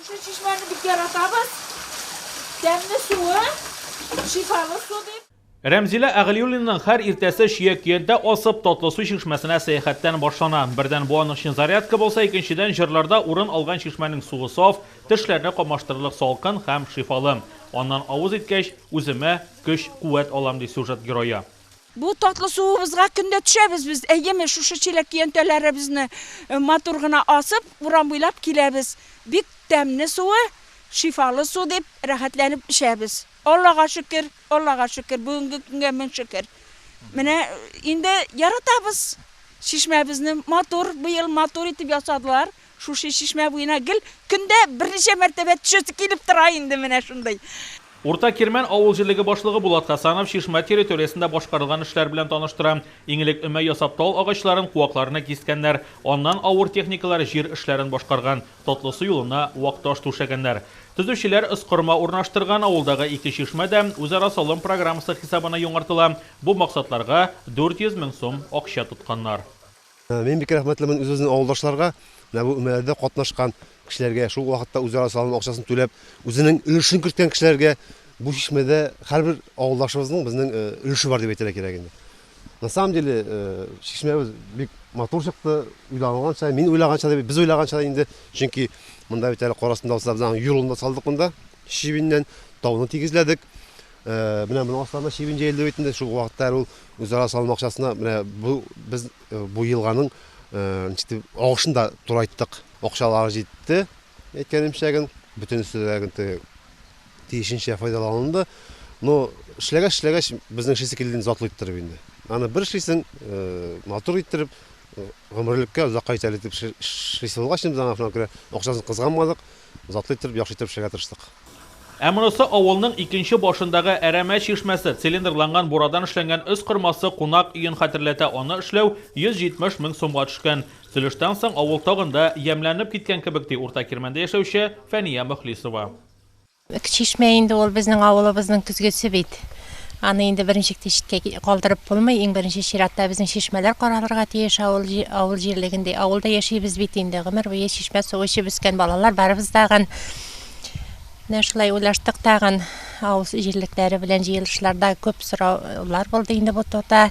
Шушы чишмәне бик яратабыз. Тәмле суы, шифалы су, ди. Рәмзилә Әгълиуллинаның һәр иртәсе чия көянтә асып, татлы су чишмәсенә сәяхәттән башлана. Бердән, бу аның өчен зарядка булса, икенчедән, җырларда урын алган чишмәнең суы саф, тешләрне камаштырырлык салкын һәм шифалы. Аннан авыз иткәч, үземә көч-куәт алам, ди сюжет герое. Бу татлы суыбызга көн дә төшәбез без, әйеме, шушы чиләк көянтәләребезне матур гына асып, урам буйлап киләбез. Бик тәмне суы, шифалы су дип, рәхәтләнеп эчәбез. Аллага шөкер, Аллага шөкер, бүгенге көнгә мең шөкер. Менә инде яратабыз чишмәбезне, матур, быел матур итеп ясадылар. Шушы чишмә буена гел көндә берничә мәртәбә төшәсе килеп тора инде менә шундый. Урта Кирмән авыл җирлеге башлыгы Булат Хәсанов чишмә территориясендә башкарылган эшләр белән таныштыра. Иң элек өмә ясап тал агачларын, куакларны кискәннәр. Аннан авыр техникалар җир эшләрен башкарган, Татлысу юлына вак таш түшәгәннәр. Төзүчеләр ыскырма урнаштырган, авылдагы ике чишмә дә үзара салым программасы хисабына яңартыла. Бу максатларга 400 мең сум акча тотканнар. Мин бик рәхмәтлемен үз-үзен авылдашларга, менә бу өмәләрдә катнашкан кешеләргә, шул вакытта үзара салым акчасын түләп, үзенең өлешен керткән кешеләргә, бу чишмәдә һәрбер авылдашыбызның безнең э, өлеше бар дип әйтергә кирәк инде. На самом деле, э, чишмәбез бик матур чыкты, уйлаганча, мин уйлаганча да, без уйлаганча да инде, чөнки монда бит әле карасында булса, без аның юлын да салдык монда, чебиннән, тауны тигезләдек. Э, менә моның астында чебин җәелде бит инде, шул вакытта әле ул Үзара салым акчасына менә бу без бу елганың агышын да турайттык. Акчалар җитте, әйткәнемчә ген, бөтенесе дә тиешенчә файдаланылды. Но эшләгәч-эшләгәч, безнең эшлисе килде инде затлы иттереп инде. Аны бер эшлисең, матур иттереп, гомерлеккә, озакка итәр итеп эшлисе булгач, без аңа шуңа күрә акчасын кызганмадык. затлы иттереп, яхшы иттереп эшләргә тырыштык. Ә монысы авылның икенче башындагы әрәмә чишмәсе, цилиндрланган бурадан эшләнгән өс кормасы кунак өен хәтерләтә, аны эшләү 170 мең сумга төшкән. Сөлештән соң авыл тагын да ямьләнеп киткән кебек, ди Урта Кирмәндә яшәүче Фәния Мөхлисова. Чишмә инде ул безнең авылыбызның көзгесе бит. Аны инде беренче читкә калдырып булмый. Иң беренче чиратта безнең чишмәләр каралырга тиеш авыл, авыл җирлегендә. Авылда яшибез бит инде, гомер буе чишмә суы эчеп үскән балалар барыбыз тагын. Менә шулай уйлаштык тагын. Авыл җирлекләре белән җыелышларда күп сораулар булды инде бу турыда.